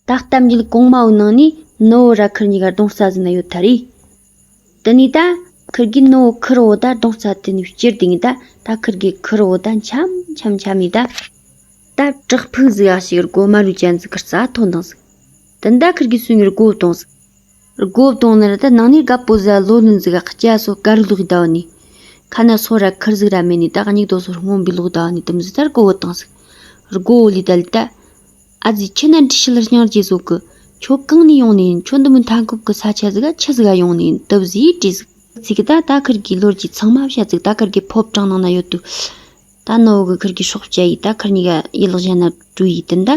ད་ལྟ་རྟ་མཇུག་གོང་མའོ་ནང་ནས་ནོ་བོ་ར་ཁུར་ཉིས་གར་སྡོང་རྩ་ཟིན་ན་ཡོད་ད་རེད། དེ་ནས་ད་ཁུར་དགོས་ནོ་བོ་ཁུར་བོ་ད་སྡོང་རྩ་དེ་ནས་བསྐྱུར་དེ་ངས་ད་ད་ཁུར་དགོས་ཁུར་བོ་ད་འཆམ་འཆམ་འཆམ་ནས་ད་ད་བྲག་ཕུག་ཟིག་ཡ་ཞིག་རྒོད་མ་རུའི་གྱན་ཟིག་གི་རྩ་ཐོག་འདིང་ཟིག་དེ་ནས་ད་ཁུར་དགོས་སུ་ངས་རྒོད་བཏང་ཟིག། སྒོ་བཏོང་ནི་ར་ད་ནང་ནས་ག་པོ་ཟ་ལོ་ནི་འཛི་ག་ཁ་སྐྱ་སོ་ཀ་རུ་ལུག་ཟླ་བ་ནི། ཁ་ན་སོ་ར་ཁུར་ཟིག་ར་མེ་ནི་ད་ག་སྙིགས་དོ་སོ་སྔོན་པོའི་ལུག་ཟླ་བ་ནི་དུམ་ཟི་ལྟར་གོ་བོ་བཏང་ཟིག། སྒོ་བོ་ལི་ད་ལི་ད། ཨ་ཛི་ཁྱི་ན་འདྲི་ཤི་ལར་ཤང་རྗེས་བཟོ་གི། ཁྱོད་གང་ནས་ཡོང་ནི་ཡིན་ཁྱོད་འདི་མི་མཐའ་འཁོབ་གི་ས་ཆ་ཟི་ག་ཁྱི་ཟི་ག་ཡོང་ནི་ཡིན་དུབ་ཟིས་དྲིས་ཟིག། ཟི་ག་ད་ད་ཁུར་གི་ལོར་གྱི་ཚང་མ་བཤད་ཟིག་ད་ཁུར་གི་ཕོབ་གྲངས་ནང་ན་ཡོད་དུས། ད་ནོ་བོ་གི་ཁུར་གྱི་སྲོག་བཅད་ཡིད་ད་ཁུར་གཉིས་ཀ་ཡིད་ལག་བཞན་ན་དྲུ་ཡིས་དུན་ད།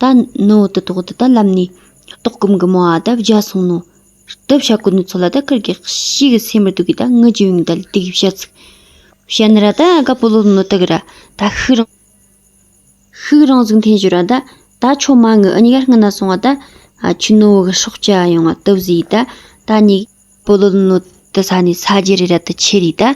ད་ནོ་བོ་དུ་ཏོག་དུ་ད་ལམ་ནི། ཏོག་སྐུམ་གི་མོ་ཨ་ད་བརྒྱ་སོང་ནོ། དུ་བྱ་ཀུ་ནུ་ཚོ་ལ་ད་ཁུར་གྱི་གཤིས་ཀྱི་སེ་མི་དུ་གི་ད་ངུ་ཅི་ཡུང་ད་ལི་ཏི་གི་བྱ་ཚིག། བྱ་ནི་ར་ད་ག་པོ་ལོ་ལོ་ནོ་ཏི་གི་ར་ད་ཤུག་རང། ཤུག་རང་གཟུགས་འཐེན་ཞུ་ར་ད། ད་ཆོ་མ་ངུ་ཨི་གཉིས་ཀ་རྐུན་ན་སོང་ཨ་ད། ཆུ་ནོ་བོ་གི་སྲོག་བཅད་ཨ་ཡོང་ཨ་དུ་བཟི་ཡིད་ད། ད་གཉིས། པོ་ལོ་ལོ་ནོ་ཏི་ས་ནི་ས་རྗེ་རི་ར་ཏི་ཆེ་རི་ད།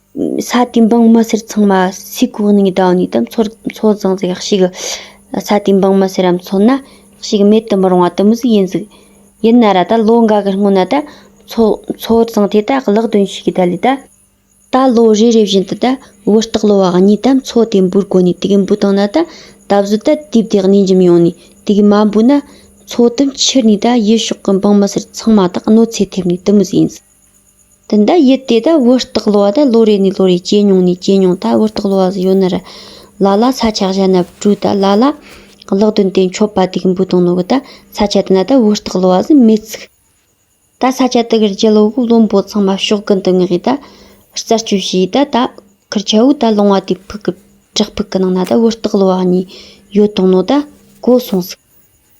ས་དེའི་འབངས་མི་སེར་ཚང་མ་སའི་གོ་གནས་ལྡང་ནས་དམ་ཚོད་བཟང་ཟིག་ཞིག་ས་དེའི་འབངས་མི་སེར་རམ་ཚོད་ན་ཞིག་མེད་དུ་མི་རུང་བ་དུ་མ་ཟིག་ཡིན་ཟིག། ཡིན་ན་ར་ད་ལོ་འགའ་གི་སྔོན་ན་ད་ཚོད་བཟང་དེ་ད་གླག་རྡུང་ཞིག་གི་ད་ལས་ད། ད་ལོ་རེ་རེ་བཞིན་དུ་ད་བུ་སྟག་ལོ་བ་གཉིས་དམ་ཚོད་དེ་འབུར་གོ་ནས་དུག་འབུ་བཏང་ན་ད་ད་གཟོད་ད་དུས་བདེ་གནས་འཇིམ་ཡོང་ནས་དུག་མ་འབུ་ན་ཚོད་དུ་འཁྱེར་ནས་ད་ཡུལ་ཕྱོགས་ཀྱི་འབངས་མི་སེར་ཚང་མ་དག་གནོད་འཚེ་ཐེབས་ནས་དུ་མ་ཟིག་ཡིན་ཟིག། འདི་འདྲ་ཡུལ་དེ་དག་བུ་སྟག་ལོ་བ་དག་ལོ་རེ་ནས་ལོ་རེ་སྐྱེས་མྱོང་ནས་སྐྱེས་མྱོང་ད་བུ་སྟག་ལོ་བ་ཟི་ཡོད་ན་ར་ལ་ལ་ས་ཆ་གཞན་ན་བྲོས་ད་ལ་ལ་གླག་རྡུལ་དེ་མཆོད་པ་དུག་འབུ་དང་ནོར་བུ་ད་ས་ཆ་དེ་ན་ད་བུ་སྟག་ལོ་བ་ཟི་མེད་ཚུགས་ད་ས་ཆ་དེ་གར་རྒྱལ་བོ་བློན་པོ་ཚང་མ་ཕྱོགས་ཀུན་ཏུ་ངེས་ད་རྩད་གཅོད་བྱས་ཡིད་ད་ད་ཁར་ཆ་བུ་ད་ལོང་བ་དེ་ཕུག་གི་བྲག་ཕུག་གི་ནང་ན་ད་བུ་སྟག་ལོ་བ་གཉིས་ཡོད་དང་ནོར་ད་གོ་སོང་ཟིག།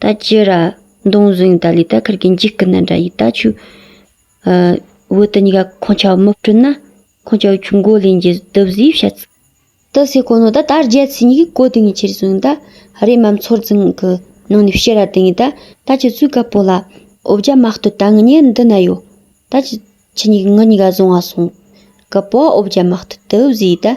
ད་ཅི་ར། མདོང་བཟུང་ཡིན་ད་ལི་ད་ཁར་གི་འཇིགས་སྐུ་ན་འདྲ་ཡིན་ད་ཆུ། བོད་དུ་ཉི་ག་ཁོང་ཆ་བ་མི་སྤྲུལ་ན། ཁོང་ཆ་བ་ཆུ་མགོ་ལེན་རྒྱུ་དུབ་བཟོས་བྱ་ཚུ། དུ་སེ་གོ་ནོ་ད་ད་རྒྱལ་ཚི་ཉི་གི་གོ་དུ་ངི་ཆེར་བཟུང་ད། རེ་མམ་ཚོར་ཙིང་གི་ནང་ནི་བཤེ་ར་དུ་ངི་ད་ད་ཆུ་ཚུ་ག་པོ་ལ། འོ་བརྒྱ་མ་སྟོད་ད་ངི་ཉེ་འདི་ན་ཡོ། ད་ཆུ་ཆུ་ཉི་གི་ངི་ཉི་ག་བཟུང་བ་སོང། གི་པོ་འོ་བརྒྱ་མ་སྟོད་དུ་བཟོས་ད།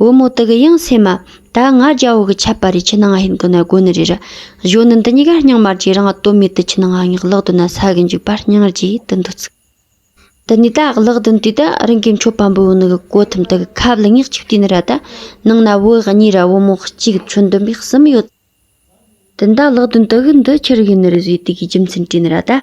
བུ་མོ་དག་ཡང་སེམས་མ། ད་ང་རྒྱལ་བོ་གི་ཆད་པ་རེ་ཆི་ནང་ང་ཧིན་གི་ན་དགོན་ནི་རེ་ར། གཞོན་ནུ་འདི་གཉིས་ཀ་རྙིང་མར་གྱི་རང་ལྟོ་མེད་དུ་ཆི་ནང་ང་ངག་ལག་དུ་ན་ས་གི་འཇུག་པ་སྙིང་རྗེ་ཡི་དུ་འདུག་ཚུགས། དུ་ནི་ད་ངག་ལག་དུ་ན་དུས་ད་རིང་གི་མཆོད་པ་འབུལ་བ་ནི་གི་གོ་ཐུམ་དག་གི་ཁབ་ལ་ངེག་གཅིག་དུས་ནི་ར་ད། ནང་ན་བུ་གཉིས་ར་བུ་མོ་གཅིག་ཆུ་འདོན་པའི་གསུམ་ཡོད། དུ་ནི་ད་ལག་དུ་ན་དག་གི་འདི་ཁྱེར་གི་ནི་རེ་བཟོ་ཡི་དུས་ཀྱི་རྒྱུ་མཚན་དྲིས་ནི་ར་ད།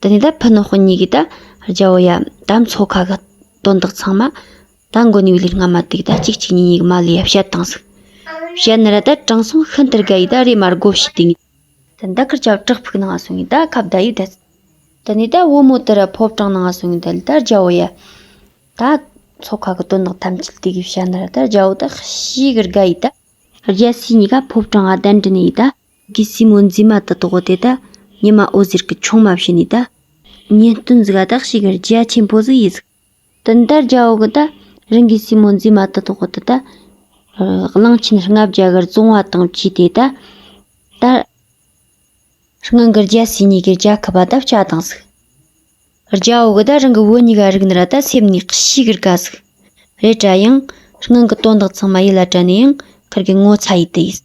དེ་ནས་ད་ཕུ་ནུ་སྤུན་གཉིས་ཀྱིས་ད་རྒྱལ་པོ་ཡ་ད་མཚོ་ཁ་གི་དོན་དག་ཚང་མ་ད་མགོ་ནས་བོས་ལུས་སྔ་མ་དུས་ད་གཅིག་གཅིག་གཉིས་གཉིས་ཀྱི་མ་ལུས་ཡ་བཤད་དང་ཟིག་བཤད་ནི་ར་ད་དྲང་སྲོང་ཤིན་ཏུ་དགའ་ཡིས་ད་རེས་མར་སྒོ་ཕྱེས་དུས་ངས་ད་ད་གར་ཆག་དྲག་ཕུག་ནང་སོང་ངས་ད་ཁ་བརྡ་ཡིས་ད་ཚིག་དེ་ནས་ད་བུ་མོ་དེ་ར་ཕོ་བྲང་ནང་སོང་ངས་ད་ལི་ད་རྒྱལ་པོ་ཡ་ད་མཚོ་ཁ་གི་དོན་དག་ཐམས་ཅད་དུས་ཀྱི་བཤད་ནི་ར་ད་རྒྱལ་པོ་ད་ཤིག་གི་དགའ་ཡིས་ད་རྒྱལ་སྲས་གཉིས་ཀ་ཕོ་བྲང་ང་གདན་དྲི་ནས་ཡིས་ད། གིས་སྲིན་མོ་འཛིན་མ་དང་དོག་གོ་དེ་ད་ཉི་མ་འོད་ཟེར་གྱི་ཆུང་མ་བྱས་ནས་ད། ཉིན་སྟོན་གཟུགས་ཨ་དག་ཞིག་གིར་རྒྱ་ཆེན་པོ་གཟུགས་ཡིས་གཟིགས། དུ་འདར་རྒྱ་འོག་གི་ད་རིང་གི་སྲིན་མོ་འཛིན་མ་དང་དོག་གོ་དེ་ད། གླང་ཆེན་ལྔ་བརྒྱ་གིར་བཙོང་བ་དང་བཅས་ཏེ་ད། དར། སྔོན་གྱི་རྒྱལ་སྲས་གཉིས་ཀྱིས་རྒྱ་ཁབ་པ་ད་བྱ་དང་གཟིགས། རྒྱ་འོག་གི་ད་རིང་གི་བུ་གཉིས་ཀ་རིག་ནི་ར་ད་སེམས་ནས་ཀི་ཤི་གིར་ཀ་གཟིགས། རེ་བྲ་ཡང། སྔོན་གྱི་དོན་དག་ཚང་མ་ཡིད་ལ་དྲན་ནས་ཡང་གིར་གི་ངོ་ཚ་ཡིས་དི་ཡིས།